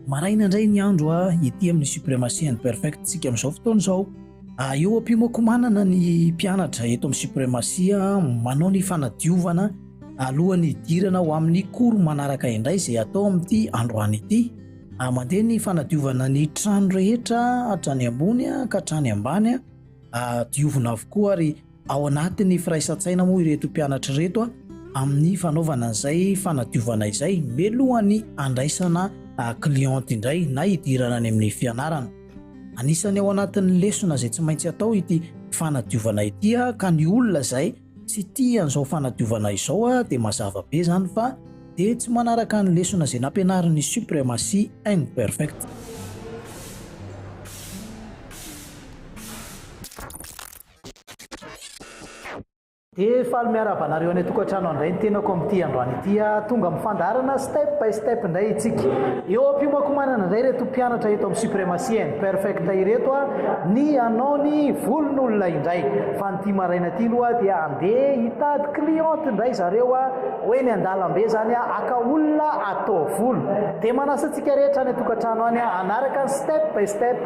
Maraina indray ny andro a ity amin'ny supremacy and perfect tsika amin'izao fotoana izao eo am-pimokomanana ny mpianatra eto amin'ny supremacy manao ny fanadiovana alohan'ny hidirana ho amin'ny cours manaraka indray izay atao amin'ity androany ity Ah, mandeha ny fanadiovana ny trano rehetra hatrany ambony ka hatrany ambany a, ah, diovina avokoa ary ao anatin'ny firaisan-tsaina moa ireto mpianatra ireto a, amin'ny fanaovana izay fanadiovana izay melohan'ny andraisana ah, client indray na hidirana any amin'ny fianarana. Anisany ao anatin'ny lesona izay tsy maintsy atao ity fanadiovana ity a, ka ny olona izay Tsy tia an'izao fanadiovana izao aho dia mazava be izany fa dia tsy manaraka ny lesona izay nampianarin'ny supremacy and perfect. Dia faly miarahaba anareo any an-tokantrano handray ny tenako amin'ity androany ity aho. Tonga amin'ny fandaharana step by step indray isika. Eo am-piomankomanana indray ireto mpianatra eto amin'ny supremacy and perfect ireto aho, ny hanao ny volon'olona indray. Ity maraina ity loha dia andeha hitady cliente indray zareo a, ho eny an-dalambe zany a, aka olona atao volo. Dia manasa antsika rehetra any an-tokantrano any a, hanaraka ny step by step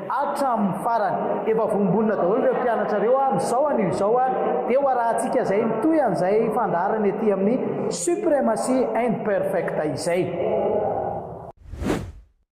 hatramin'ny farany. Efa vombonina daholo ireo mpianatra ireo a, amin'izao anio izao a, dia ho arahantsika izay mitohy an'izay fandaharana ety amin'ny Supremacy Imperfecta izay.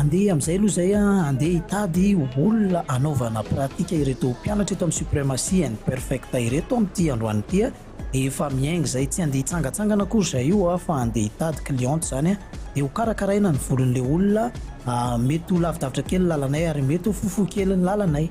Andeha amin'izay aloha izay an, andeha hitady olona hanaovana pratika ireto mpianatra eto amin'ny Supremacy and Perfecta ireto amin'ity androany ity an, efa miainga izay, tsy andeha hitsangantsangana akory izay io an, fa andeha hitady cliente izany an, dia ho karakaraina ny volon'ilay olona, mety ho lavidavitra kely ny lalanay ary mety ho fohifohy kely ny lalanay.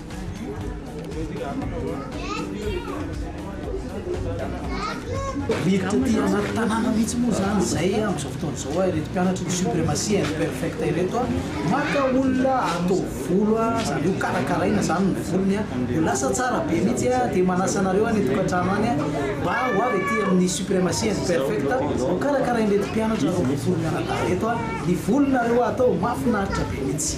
Mety taty anaty tanàna mihitsy moa izany izay amin'izao fotoana izao a, ireto mpianatry ny supremacy imperfecta ireto a, maka olona atao volo a, izany hoe hokarakaraina izany ny volony a, ho lasa tsara be mihitsy a, dia manasa anareo any an-tokantrano any a, mba ho avy aty amin'ny supremacy imperfecta, hokarakarain'ireto mpianatra roa ambin'ny folo mianadahy ireto a, ny volonareo atao mahafinaritra be mihitsy.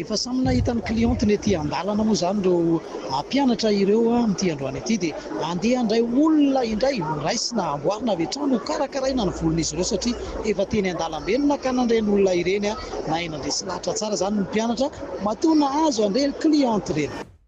Efa samy nahita ny clientny ety andalana moa izany ireo mpianatra ireo amin'ity androany ity dia handeha handray olona indray ho raisina amboarina avy hatrany ho karakaraina ny volon'izy ireo satria efa teny andalambe no nakana ireny olona ireny nahay nandresy lahatra tsara izany ny mpianatra matoa nahazo an'ireny clientny ireny.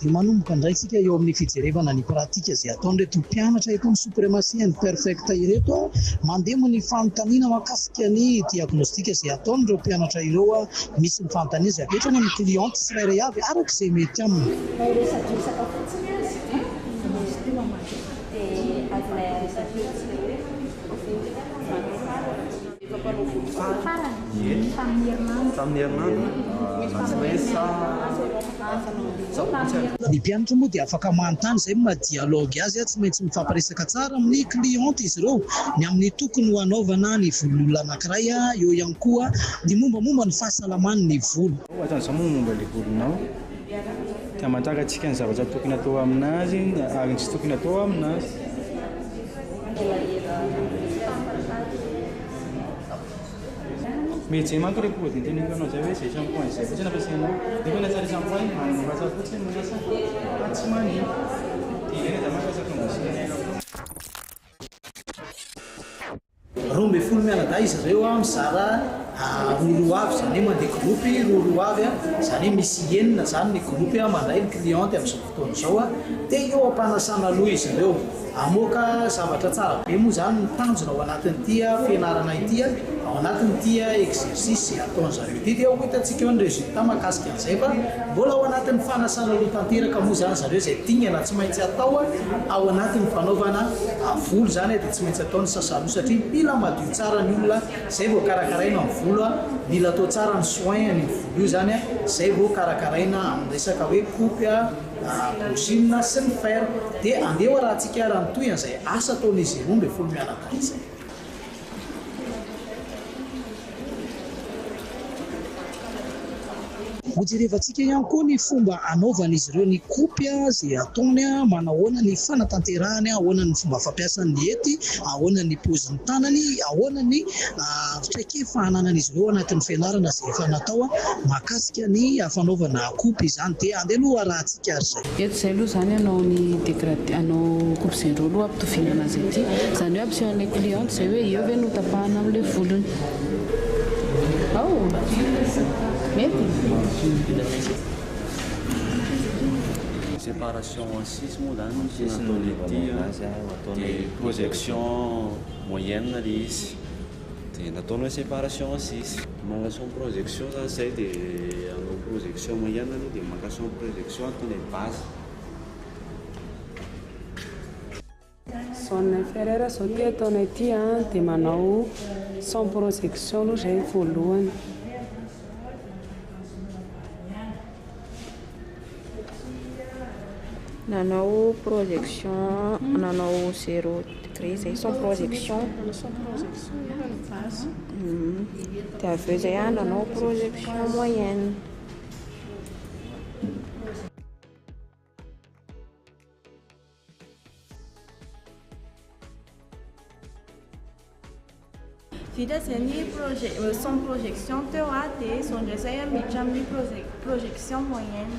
Dia manomboka indray tsika eo amin'ny fijerevana ny pratika izay ataon'ireto mpianatra eto amin'ny Supremacy and Perfect ireto mandembo ny fanontaniana mahakasika ny diagnostika izay ataon'ireo mpianatra ireo misy ny fanontaniana izay avy hatrany amin'ny cliente tsirairay avy araka izay mety aminy. Efa mpanao fototsy ny farany tamin'ny herinandro. Tamin'ny herinandro? Antsa na izy sa antsa no andeha? Sa ontsy ary? Ny mpianatra moa dia afaka manontany izay ny maha dialogue azy, tsy maintsy mifampiresaka tsara amin'ny cliente izy ireo, ny amin'ny tokony ho hanaovana ny volon'ny olona anankiray, eo ihany koa ny mombamomba ny fahasalaman'ny volo. Hoatran'izao moa ny momba ilay volonao? Ka manjaka antsika ny zavatra tokony atao amin'azy ary ny tsy tokony atao amin'azy. Roa ambin'ny folo mianadahy izy ireo, mizara roa roa avy, izany hoe mandeha groupe roa roa avy, izany hoe misy enina izany ny groupe mandray ny cliente amin'izao fotoana izao, dia eo am-panasana loha izy ireo. Hamoaka zavatra tsara be moa izany no tanjona ao anatin'ity fianarana ity, ao anatin'ity exercice izay ataon-dry zareo ity dia ho hitantsika eo ny résultat mahakasika an'izay fa mbola ao anatin'ny fanasana loha tanteraka moa izany ry zareo izay dingana tsy maintsy atao ao anatin'ny fanaovana volo izany. Tsy maintsy atao ny sasalo satria mila madio tsara ny olona zay vao karakaraina ny volo a, mila atao tsara ny soin an'io volo io zany a, zay vao karakaraina amin'ny resaka hoe kopy a, brushing sy ny fer, de andeha ho arahantsika ary mitohy an'izay asa ataon'izy roa ambin'ny folo mianadahy izay. Hojerevantsika ihany koa ny fomba anaovan'izy ireo ny kopy, izay ataony, manahoana ny fanatanterahany, ahoana ny fomba fampiasany ny hety, ahoana ny paozin'ny tanany, ahoana ny traikefa ananan'izy ireo anatin'ny fianarana izay efa natao mahakasika ny fanaovana kopy izany. Dia andeha aloha arahantsika ary izay. Eto izay aloha izany hanao ny degradé, hanao coupe zero aloha hampitoviana anazy aty. Izany hoe hampiseho an'ilay cliente izay hoe eo ve no hotapahana amin'ilay volony. Ao! Mety? Séparation en six moa izany no tena ataon'ny aty an, dia projection moyenne ilay izy. Dia nataony hoe séparation sisa. Maka son projection zany zay de anao projection mahiana aloha de maka son projection ataony hoe base. Son inférieur zao ty ataonay ty a de manao son projection aloha zay voalohany. Nanao projection nanao zero degré zay sans projection dia avy eo zay ah nanao projection moyenne Vita izay ny euh, son projection teo a dia izao indray izay miditra amin'ny projection moyenne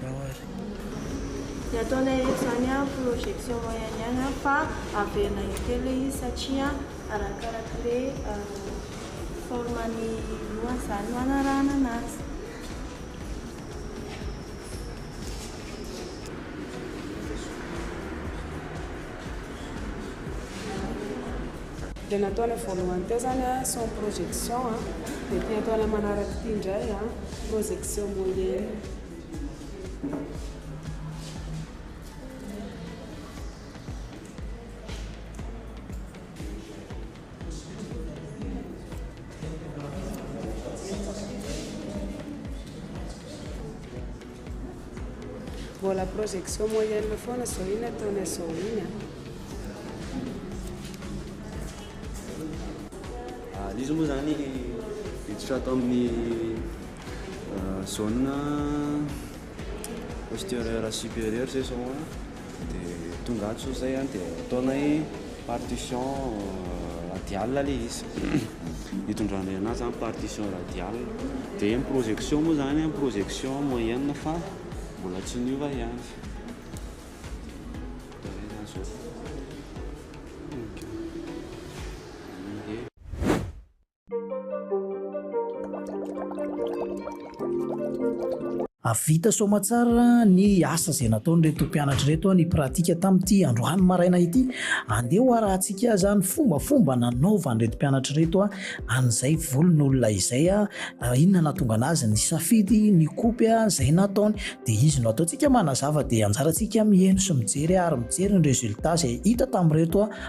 Tao ary. Ny ataonay eto izany an, projection moyen ihany an, fa averina intelo ilay izy satria arakaraka ilay forme ny lohany izany no anarahana an'azy. Dia nataonay voalohany teo zany an, son projection an, dia ity ataonay manaraka ity indray an, projection moyenne. Mbola projection moyenne foana zao iny ataonay zao iny a. Ah, izy moa zany hiditra ato amin'ny ah, zone Postérieure supérieure zay zao an, dia tonga ato zao zay an, dia ataonay partition radiale le izy, itondranay anazy zany partition radiale, dia ny projection moa zany an, projection moyenne fa mbola tsy niova ihany. Hahavita soamatsara ny asa izay nataon'ireto mpianatra ireto ny pratika tamin'ity androany maraina ity. Andeha hoharahantsika aza ny fombafomba nanaovan'ireto mpianatra ireto an'izay volon'olona izay. Inona nahatonga anazy nisafidy ny kopy izay nataony? Dia izy no ataontsika manazava, dia anjarantsika miheno sy mijery ary mijery ny résultat izay hita tamin'ireto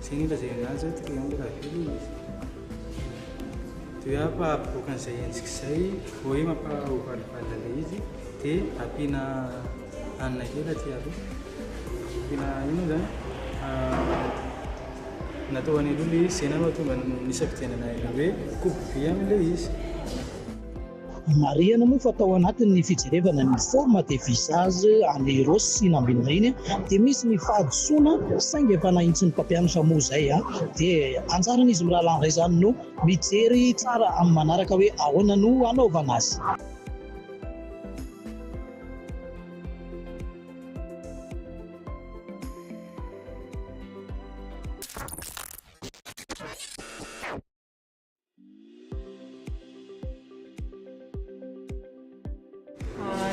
Izay ny lazaina anazy hoe triangle à vue aloha izy. Dia fa aboaka an'izay endrika izay, vao hoe mampahovalivaly ilay izy, dia ampiana hanina kely aty aloha. Ampiana ino izany? Natao any aloha ilay izy, izay nahatonga ny nisafidianana ilay hoe coupe vy amin'ilay izy. Marihana moa fa tao anatin'ny fijerevana ny forme de visage an'i Rossy sy Nambinina iny dia misy ny fahadisoana saingy efa nahitsy ny mpampianatra moa izay dia anjaran'izy mirahalahy indray izany no mijery tsara amin'ny manaraka hoe ahoana no hanaovana azy.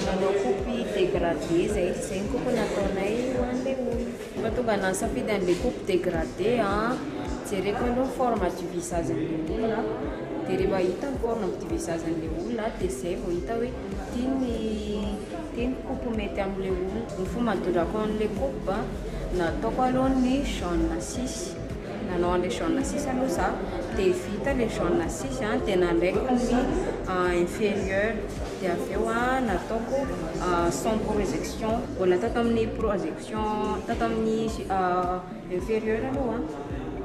Nanao kopy degradé zay, zay ny kopy nataonay ho an'le olona. Mahatonga anah nisafidy an'le kopy degradé an, jereko aloha ny forme du visage an'le olona, dia rehefa hita ny forme du visage an'le olona dia zay vao hita hoe ty ny ty ny kopy mety amin'le olona. Ny fomba nandodrako an'le kopy an, nataoko aloha ny jaune six. Nanao an'ilay jaune six aloha za dia vita ilay jaune six a dia nalaiko ny inferieur dia avy eo a nataoko sans projection mbola tao tamin'ny projection tao tamin'ny inferieur aloha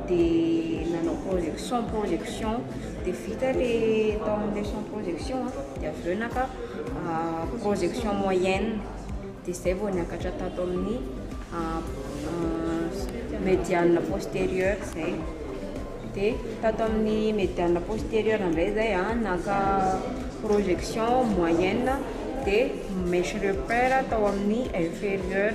dia nanao projection sans projection dia vita ilay tao amin'ilay sans projection dia avy eo naka projection moyenne dia izay vao niakatra tato amin'ny médiane postérieure izay. Dia tato amin'ny médiane postérieure indray izay a, naka projection moyenne dia mèche repère tao amin'ny inférieure.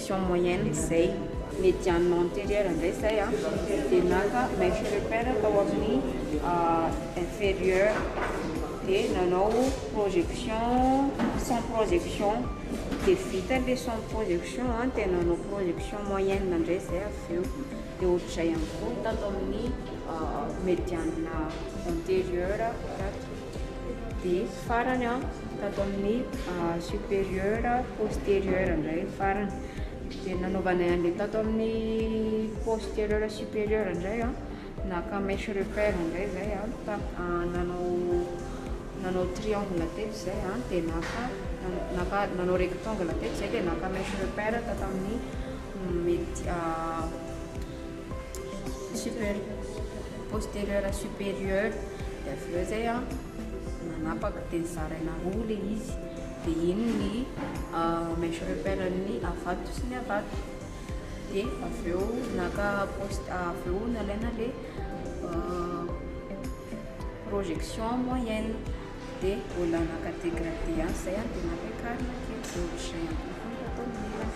Section moyenne zay. Médiane antérieure ndray zay a, dia naka mèche repère tao amin'ny inférieure, dia nanao projection sans projection, dia vita ilay sans projection a, dia nanao projection moyenne ndray zay avy eo, dia ohatr'izay ihany koa tato amin'ny médiane antérieure tato. Dia farany an, tato amin'ny supérieur postérieur indray ny farany. Dia nanaovanay an'ilay tato amin'ny postérieur supérieur indray an, naka mèche repère indray zay an, nanao nanao triangle teto zay an, dia naka naka nanao rectangle teto zay dia naka mèche repère tato amin'ny mety Super. Posterieur à supérieur. Dia avy eo izay an, nanapaka dia nizaraina roa ilay izy. Dia iny ny euh, mèche repère-n'ny avato sy ny avato. Dia avy eo naka post, avy eo nalaina ilay euh, projection moyenne. Dia mbola naka dégradé ihany izay an, dia nampiakarina kely. Dia ohatr'izay ihany koa fomba ataon'ny ilany.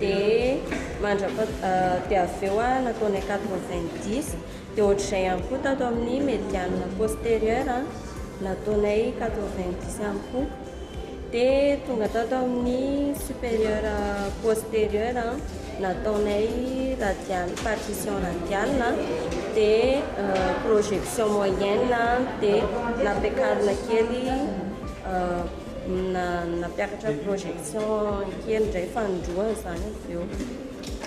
dia mandrapa dia avy eo aho nataonay quatre-vingt-dix dia ohatr'izay ihany koa tato amin'ny mediane postérieur nataonay quatre-vingt-dix ihany koa dia tonga tato amin'ny supérieur postérieur nataonay radiale partition radiale dia projection moyenne dia nampiakarina kely Nampiakatra ny projection kely indray fanindroany izany avy eo.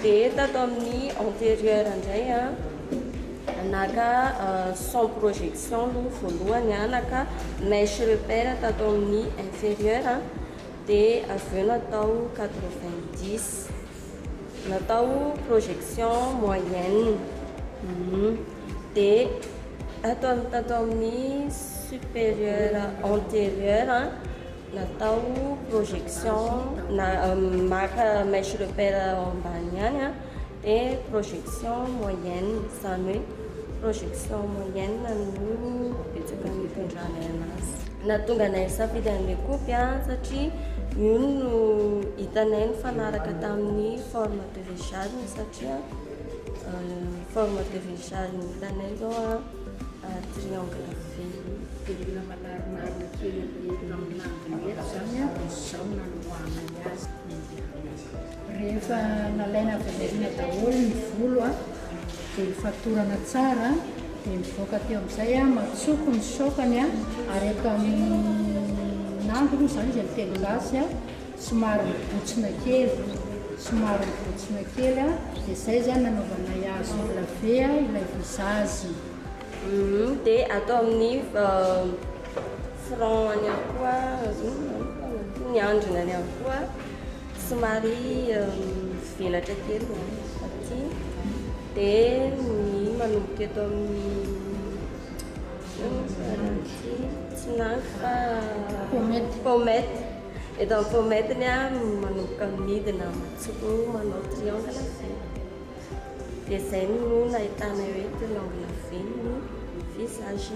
Dia tato amin'ny antérieur indray a, naka sans projection aloha voalohany a, naka mèche repère tato amin'ny inférieur dia avy eo natao 90. Natao projection moyenne dia tato amin'ny tato amin'ny supérieur antérieur natao projection na maka mèche repère ambany ihany dia projection moyenne izany hoe Projection moyenne no betsaka nitondranay anazy. Nahatonga anay nisafidy an'ilay kopy an, satria io no hitanay nifanaraka tamin'ny forme de vecharme satria forme de vecharme hitanay izao an triangle vy io. Dia mila manarimarina kely amin'ny langue mety izany an, dia izao no nanorahanay azy. Rehefa nalaina avy any aoriana daholo ny volo a, dia nofatorana tsara dia mivoaka teo amin'izay a, matsoko ny saokany a, ary eto amin'andro moa izany izy amin'ny telo lasy a, somary mibotsina kely, somary mibotsina kely a, dia izay izany nanaovanay azy ho lave a ilay visazy. Dia atao amin'ny front-ny ihany koa, ny andriny ihany koa. Somary mivelatra kely ny aty dia ny manomboka eto amin'ny tsinangy fa pomety pomety eto amin'ny pomety ny manomboka midina matsoko manao triangle vy dia izay no nahitana eo eto ny angle vy ny visage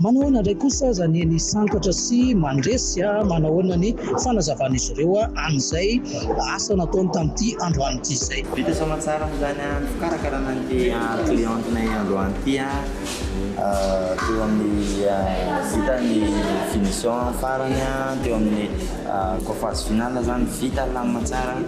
Manahoana indray kosa aza ny ny santatra sy mandresy? Manahoana ny fanazavan'izy ireo an'izay asa nataony tamin'ity androany ity izay? Vita soamantsara amin'izany ny fikarakarana an'ity clientenay androany ity teo amin'ny vita ny finition farany teo amin'ny coiffage final izany vita lamina tsara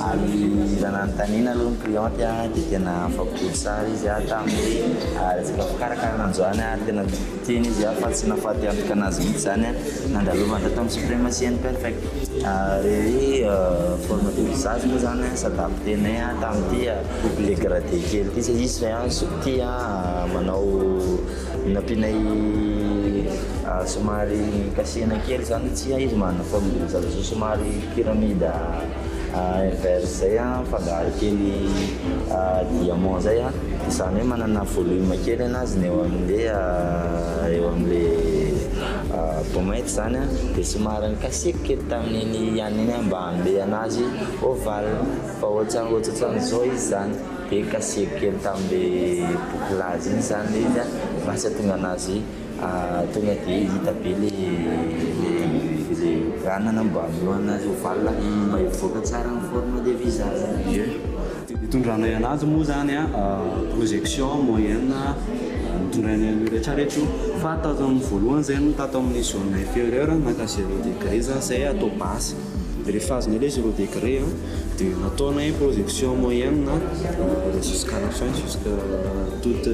ary raha nanontaniana aloha ny cliente dia tena afa-po tsara izy tamin'ny resaka fikarakarana androany. Tena niteny izy ah fa tsy nahafaty antoka anazy mihitsy zany an, nandalovany raha tamin'ny supremacy and perfect ary hoe forme de visage moa zany an s'adapter-nay an tamin'ity degradé kely ity satria izy zay an soup ity an manao nampianay somary kasihina kely zany satria izy manana forme de visage somary pyramide. Inverse zay an, mifangaro kely diamant zay an, izany hoe manana volume kely an azy ny eo amle eo amle pommette zany an, dia somary nikasihiko kely tamin'iny ihany iny aho mba hanome anazy ovale fa ohatran ohatran'izao izy zany, dia kasihiko kely taminle bouclage iny zany le izy an mba tsy hahatonga anazy Tonga dia hita be ilay ranana mba hamoahana an'io valona iny mba hivoaka tsara ny forme de visage. Ie. Dia ny itondranay an'azy moa izany an, projection, moyenne, no itondrany an'io rehetra rehetra io. Fa tato amin'ny voalohany izay no tato amin'ny zone inférieure naka zéro degré za izay atao base. Rehefa azony aloha izy roa degré an, dia nataonay projection moyenne an, dia jusqu'à la fin, jusqu'à toute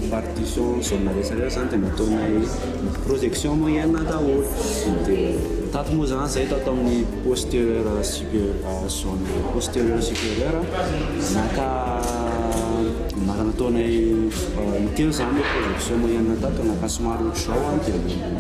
répartition zone rehetra rehetra zany dia nataonay projection moyenne daholo, dia tato moa zany zay tato amin'ny postérieur supérieur zone postérieur supérieur naka nataonay intelo zany projection moyenne tato, naka somary ohatr'izao an.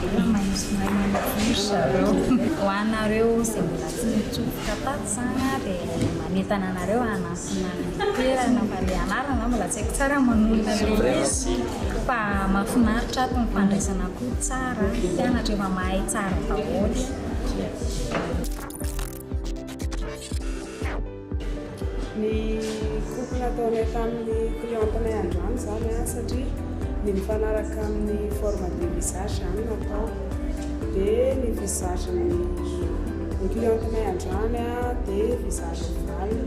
Tena maintso mahay manintsinintsy zareo. Ho anareo izay mbola tsy nitsofoka tato izany aho dia manentana anareo hanantona ny toerana fa ilay anarana izany mbola tsy haiko tsara manorina ilay izy fa mahafinaritra ato ny fandraisana koa tsara, mpianatra efa mahay tsara daholo. Ny coupe nataonay tamin'ny clientenay androany izany satria ny mifanaraka amin'ny forme de visage izany no atao. Dia ny visage-n'ny clientenay androany dia visage mibali.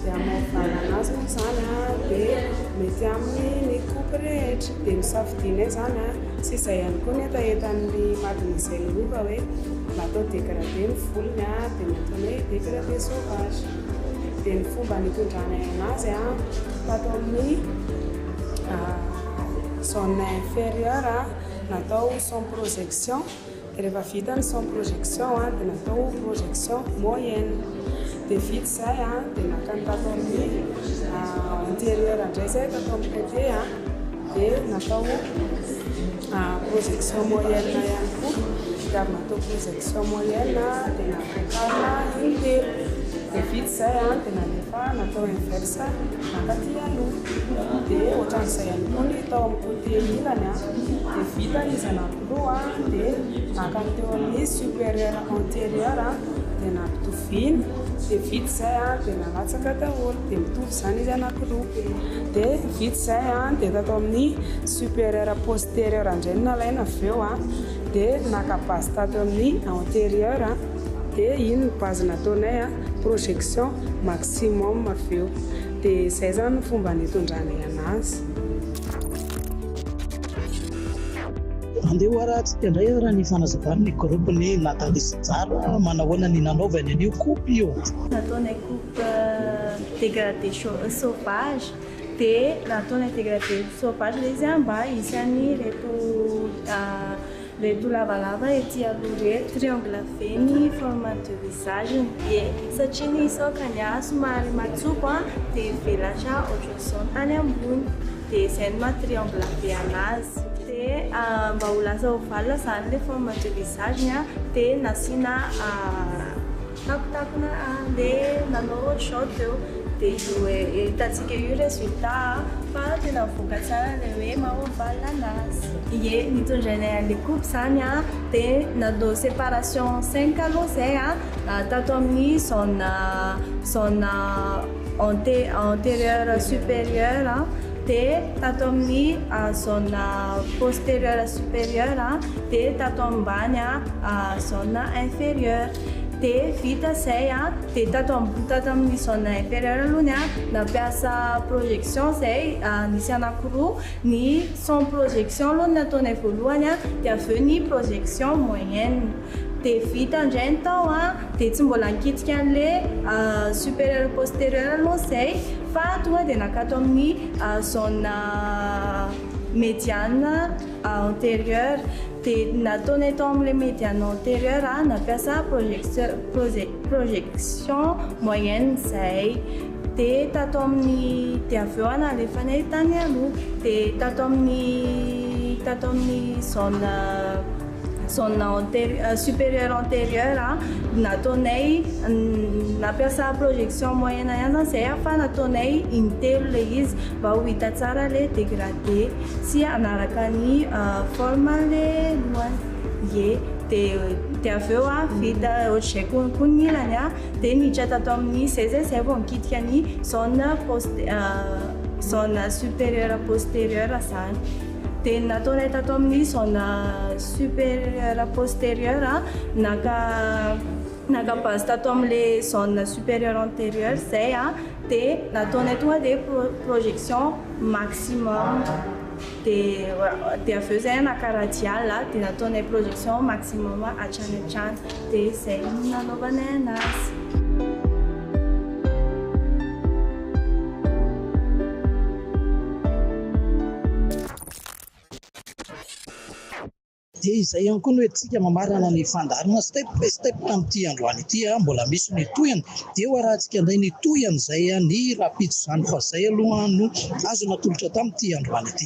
Dia hamaivana azy moa izany dia mety aminy ny coupe rehetra. Dia nosafidianay izany sy izay ihany koa ny hetahetan'ny madin'izay lova hoe mba atao dégradé ny volony. dia ny antony hoe décret de sauvage dia ny fomba nitondrany azy tato amin'ny zone inférieure natao sans projection dia rehefa vita ny sans projection dia natao projection moyenne dia vita izay dia nankany tato amin'ny antérieure indray izay tato amin'ny côté dia natao Projection moyenne ihany koa, ny fitiavana atao projection moyenne dia nampiakarina in-telo, dia vita izay dia nalefa natao inverse mankaty aloha, dia ohatran'izay ihany koa ny tao amin'ny côté ilany, dia vita ny zanakiloha dia nankany teo amin'ny supérieur antérieur dia nampitoviana, dia vita izay dia nalatsaka daholo dia mitovy. Zany izy anakiroa de vita zay a de tato amin'ny superieur posterieur indray no nalaina avy eo a de naka base tato amin'ny anterieur a de iny ny base nataonay a projection maximum avy eo de zay zany ny fomba nitondranay anazy Andeha ho arantsika indray ara ny fanazavan'ny groupe ny Nathalie sy Jara manahoana ny nanaovany an'io coupe io. Nataonay coupe. dégradé sauvage dia nataony ny dégradé sauvage ilay izy mba hisy any ireto ireto lavalava ety aloha ireto, triangle be ny forme de visage ny dia satria ny sokany somary matsoko dia mivelatra ohatr'izao ny tany ambony dia izay no maha triangle be anazy dia mba ho lasa ovale izany ilay forme de visage-ny dia nasiana Takontakona an le nanao short teo de io hitantsika io resultat a fa tena mivoaka tsara le hoe mahoval anazy. Ie nitondra anay any le coupe zany a de nanao separation cinq aloha zay a tato amin'ny zone zone ante anterieur superieur a de tato amin'ny zone posterieur superieur a de tato ambany zone inferieur. De vita zay a, de tato ambony tato amin'ny zone inférieure aloha ny ahy nampiasa projection zay nisy anakiroa, ny sans projection aloha no nataonay voalohany a, de avy eo ny projection moyenne, de vita indray ny tao a, de tsy mbola nikitika an'le supérieur postérieur aloha zay fa tonga de naka ato amin'ny zone médiane. Antérieur, dia nataonay tao amin'ilay médiane antérieur aho nampiasa projection projection moyenne izay, dia tato amin'ny dia avy eo aho nalefanay tany aloha, dia tato amin'ny tato amin'ny zone zone antérieur supérieur antérieur aho nataonay nampiasa projection moyenne ihany izany izay fa nataonay intelo ilay izy mba ho hita tsara ilay dégradé. Ye, tsy hanaraka ny forme le lohany. Ye, dia avy eo vita ohatr'izay koa ny ilany dia miditra tato amin'ny seza izay vao mikitika ny zone zone supérieure postérieure izany. Dia ny nataonay tato amin'ny zone supérieure postérieure, naka naka base tato amin'ilay zone supérieure antérieure izay dia nataonay tonga dia projection. maximum dia dia avy eo zay naka radial a dia nataonay projection maximum hatrany hatrany dia zay no nanaovanay anazy. Dia izay ihany koa no entintsika mamarana ny fandaharana step by step tamin'ity androany ity. Mbola misy ny tohiny dia ho arahantsika indray ny tohiny izay ny rahampitso izany fa izay aloha no azo natolotra tamin'ity androany ity.